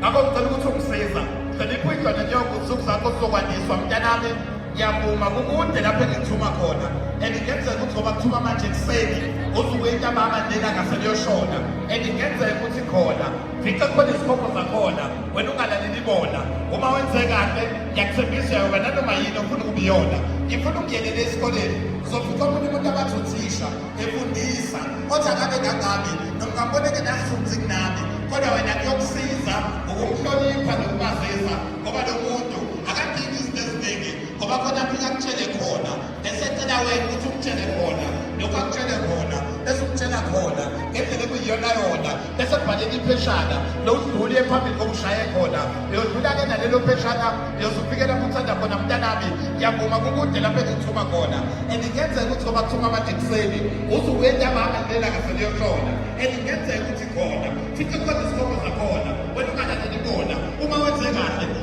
ngakho ngicela ukuthi ungisiza cela iphuyidlwane njengokusuku zakho sokwandiswa mntanami ngiyavuma kukude lapho engithuma khona and kungenzeka ukuthi ngoba kuthuma manje ekuseni usuke intabama lena ngaseliyoshona and kungenzeka ukuthi khona fica khona izikhombo zakhona wena ungalaleli bona uma wenze kahle ngiyakuthembisa yoba nanoma yini ofuna ukubiyona ngifuna ukuyelele esikoleni uzofica omunye umuntu abathi uthisha efundisa othi angabe kangami nomkamboneke nafunzi kunami kodwa wena kuyokusiza ngokumhlonipha nokumazisa ngoba lo muntu akadingi izinto eziningi ngoba khona mfika kutshele khona esecela wena ukuthi umtshele khona lokhu akutshele khona esumtshela khona ngendlela ekuyiyona yona esebhaleka ipheshana lowudluli ephambili kokushaye khona liyodlula-ke nalelo pheshana liyozufikela kuthanda khona mntanami ngiyavuma kukude lapho engithuma khona and kuyenzeka ukuthi ngoba kuthuma manje ekuseni usuke entambama lela ngaseliyoshona and kuyenzeka ukuthi khona futhi khona isikhomo zakhona wena ungalaleli bona uma wenze kahle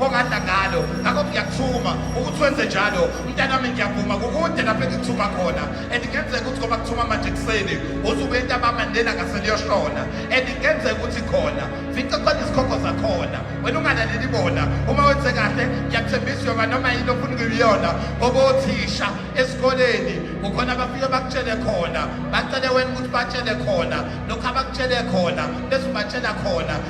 ongadla ngalo ngakho ngiyakuthuma ukuthi wenze njalo mntanami ngiyavuma kukude lapho engikuthuma khona and kungenzeka ukuthi ngoba kuthuma manje ekuseni usuke entabama lena ngaseliyoshona and kungenzeka ukuthi khona fica khona izikhokho zakhona wena ungalaleli bona uma wenze kahle ngiyakuthembisa yoba noma yini ofuna ukuyiyona ngoba othisha esikoleni kukhona abafike bakutshele khona bacele wena ukuthi batshele khona lokhu abakutshele khona bese ubatshela khona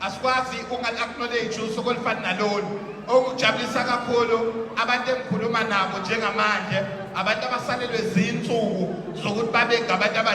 asikwazi ukungal-acknowledge usuku olufana nalolu okujabulisa kakhulu abantu engikhuluma nabo njengamanje abantu abasalelwe zinsuku zokuthi babe ngabantu